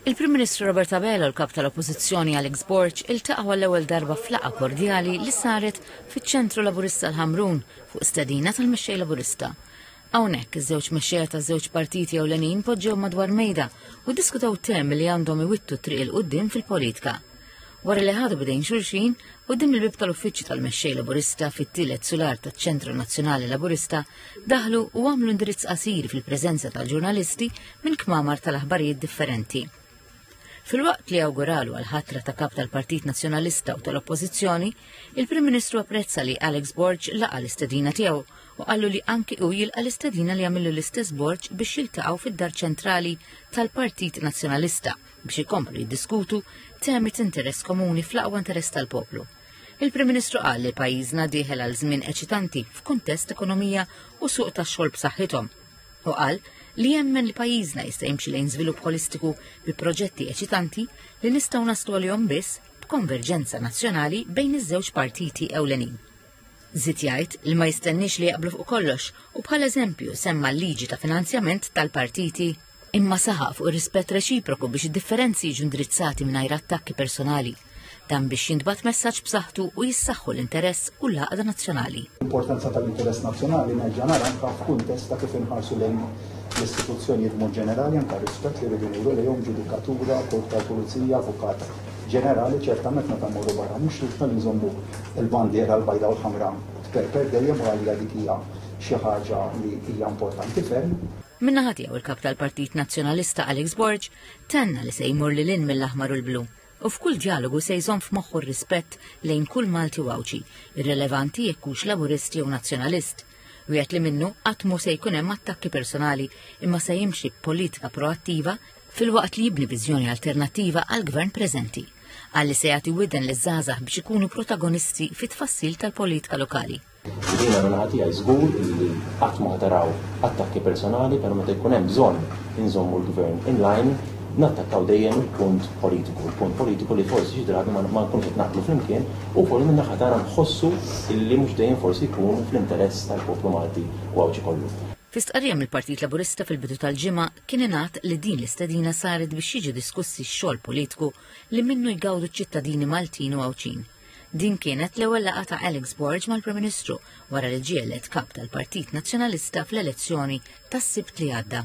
Il-Prim Ministru Robert Abela u l-Kap tal-Oppożizzjoni Alex Borg iltaqgħu għall-ewwel darba f'laqgħa kordjali li saret fiċ-Ċentru Laburista l-Ħamrun fuq stedina tal-Mexxej Laburista. Hawnhekk iż-żewġ mexxejja taż-żewġ partiti ewlenin poġġew madwar mejda u diskutaw temi li għandhom iwittu triq il qudiem fil-politika. Wara li ħadu bidejn xulxin, quddiem il-bib tal-uffiċċju tal-Mexxej Laburista fit-tielet sular taċ-Ċentru Nazzjonali Laburista daħlu u għamlu indirizz qasir fil-preżenza tal-ġurnalisti minn kmamar tal-aħbarijiet differenti. Fil-waqt li awguralu għal-ħatra ta' kap tal-Partit Nazzjonalista u tal-Oppożizzjoni, il-Prim Ministru apprezza li Alex Borg laqa l-istedina tiegħu u qallu li anki u jilqa l-istedina li għamillu l-istess Borg biex jiltaqgħu fid-dar ċentrali tal-Partit Nazzjonalista biex ikomplu jiddiskutu temi ta' interess komuni fl-aqwa interess tal-poplu. Il-Prim Ministru qal li pajjiżna dieħel għal żmien eċitanti f'kuntest ekonomija u suq tax-xogħol b'saħħithom. U qal li jemmen li pajjiżna jista' jimxi lejn żvilupp holistiku bi proġetti eċitanti li nistgħu naslu għalihom biss b'konverġenza nazzjonali bejn iż-żewġ partiti ewlenin. Zid jgħid li ma jistenniex li jaqblu fuq kollox u bħal eżempju semma l-liġi ta' finanzjament tal-partiti imma saħaq fuq ir-rispett reċiproku biex id-differenzi jiġu indirizzati mingħajr attakki personali, dan biex jintbagħat messaġġ b'saħħtu u jissaħħu l-interess u l-għaqda nazzjonali. L-importanza tal-interess nazzjonali nerġa' nara anke f'kuntest ta' kif inħarsu lejn l-istituzzjonijiet b'mod ġenerali anke rispett li rridu nuru lejhom ġudikatura, korp tal-pulizija, avukat ġenerali ċertament meta mmorru barra mhux ridna li nżommu l-bandiera l-bajda u l-ħamra tperper dejjem u għalija dik hija xi ħaġa li hija importanti ferm. Minnaħa tiegħu il-kap tal-Partit Nazzjonalista Alex Borg tenna li se jmur lil in mill-aħmar u l-blu u f'kull dialogu se jżomm f'moħħu r-rispett lejn kull Malti u Għawdxi, irrelevanti jekk hux Laburist jew Nazzjonalist. Wieħed li minnu qatt mhu se jkun hemm attakki personali imma se jimxi b'politika proattiva fil-waqt li jibni viżjoni alternattiva għall-gvern preżenti għalli se jagħti widen li żgħażagħ biex ikunu protagonisti fit-tfassil tal-politika lokali. Jiena min-naħa tiegħi żgur illi qatt ma ħataraw attakki personali pero meta jkun hemm bżonn inżommu l-Gvern in line nattakkaw dejjem il-punt politiku, il-punt politiku li forsi xi drabi ma nkunux qed naqblu flimkien u wkoll min-naħa tagħna nħossu illi mhux dejjem forsi jkun fl-interess tal-poplu Malti u Għawdxi kollu. Fi stqarrija mill-Partit Laburista fil-bidu tal-ġimgħa kien ingħad li din l-istedina saret biex jiġu diskussi x-xogħol politiku li minnu jgawdu ċ-ċittadini Maltin u Għawdxin. Din kienet l-ewwel laqgħa ta' Alex Borg mal-Prim Ministru wara li ġie elett Kap tal-Partit Nazzjonalista fl-elezzjoni tas-Sibt li għadda.